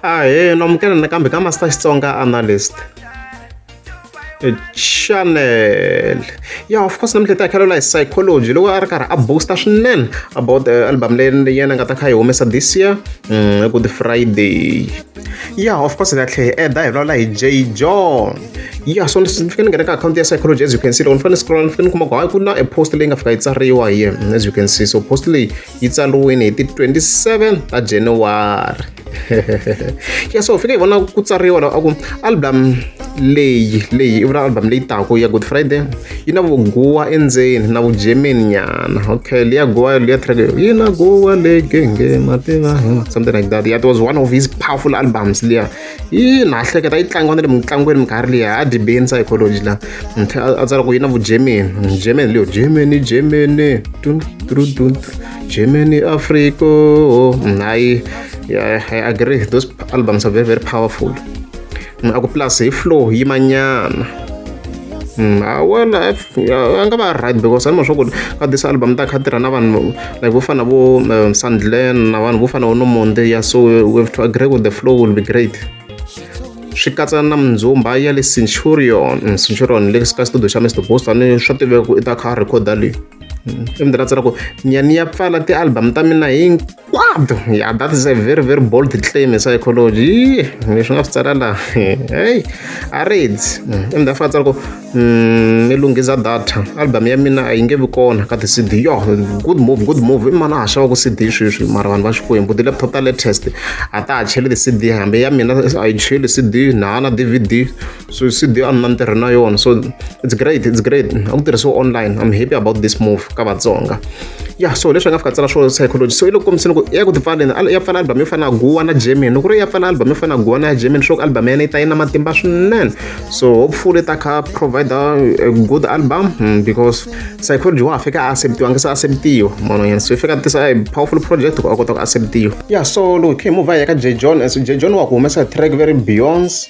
Ahee, no amukela nakambe ka Master Xitsonga Analyst. Chanel. Yeah, of course namuntlha hi ta kheleriwa hi psychology loko a ri karhi a booster swinene about uh, album leyi yena nga ta kha yi humesa this year mm, good friday yeah of course hi ta tlhe hi eda hi vulavula hi j john yeah so ni fike ni nghena ka akhawunti ya psychology as you can see loko ni fanele scroll ni fike ni kuma ku hayi ku na e post leyi nga fika yi tsariwa hi yena as you can see so post leyi yi tsariwile hi ti 27 ta januwari ya so fike hi vona ku tsariwa a ku album leyi leyi i vula album leyi taku ya good friday yi na vuguwa endzeni na vugermany nyana okay leya guwa leya track yi na guwa legenge mativa something like that yeah, it was one of his powerful albums leya ina ha hleketa yi tlangiwa na le mitlangwini minkarhi liya a dibeni psychology la a tsala ku yi na vugermany germany leyo germany germany tun tru tun germany africa hayi i agree those albums are very very powerful a ku plus hi flow yi manyana wena a nga va right because ni ma swa ku ka this album ta kha tirha na vanhu like vo fana vo sandlen na vanhu vo fana vo nomonde ya so we have to agree with the flow will be great swi katsa na mindzumba ya le centurion centurion le ka studio xa mr bosta ni swa tiveka ku i ta kha a rhekhoda leyi i mi ndzi rhandza ra ku nyani ya pfala ti-album ta mina hi kwado ya that is a very very bold claim hi psychology mi swi nga swi tsala laha heyi a reds ende a fa tsala ku mm, mi lunghisa data album ya mina a yi nge vi kona ka ti-cd yo good move good move i mani a ha xava ku cd sweswi mara vanhu va xikwembu ti-laptop ta latest a ta ha cheli ti-cd hambi ya mina a yi cheli cd na ha na dvd so cd a ni na ntirho na yona so it's great it's great a ku tirhisiwa online i'm happy about this move ka vatsonga ya yeah, so leswi nga fika tsala swo psychology so i loko kombiseni ku ya ku tipfaleni ya pfala album yo fana na guwa na german loko ri ya pfala album yo fana na guwa na german swo ku album ya yena yi ta yi na matimba swinene so hopefully ta kha provide a good album hmm, because psychology wa ha fika a acceptiwa nge se acceptiwa mono yena so i fika tisa a powerful project ku a kota ku acceptiwa ya yeah, so loko khe move ya ka j john so j john wa ku humesa track very beyonce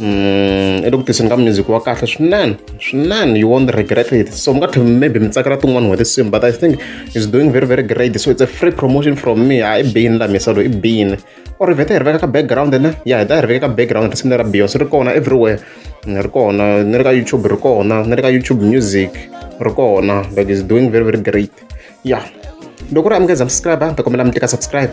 mm, i le ku tiseni ka music wa kahle swinene swinene you won't regret it so mi nga tlhe maybe mi tsakela tin'wana n'hweti sim but i think is doing very very great so it's a free promotion from me a i bini la misalo i bini or vheta hi ri veka ka background ne ya hi ta hi ri veka ka background risimu lera beyonce ri kona everywhere ni ri kona ni ri ka youtube ri kona ni ri ka youtube music ri kona like is doing very very great ya loko ri amukeza subscribe ta kombela mi tika subscribe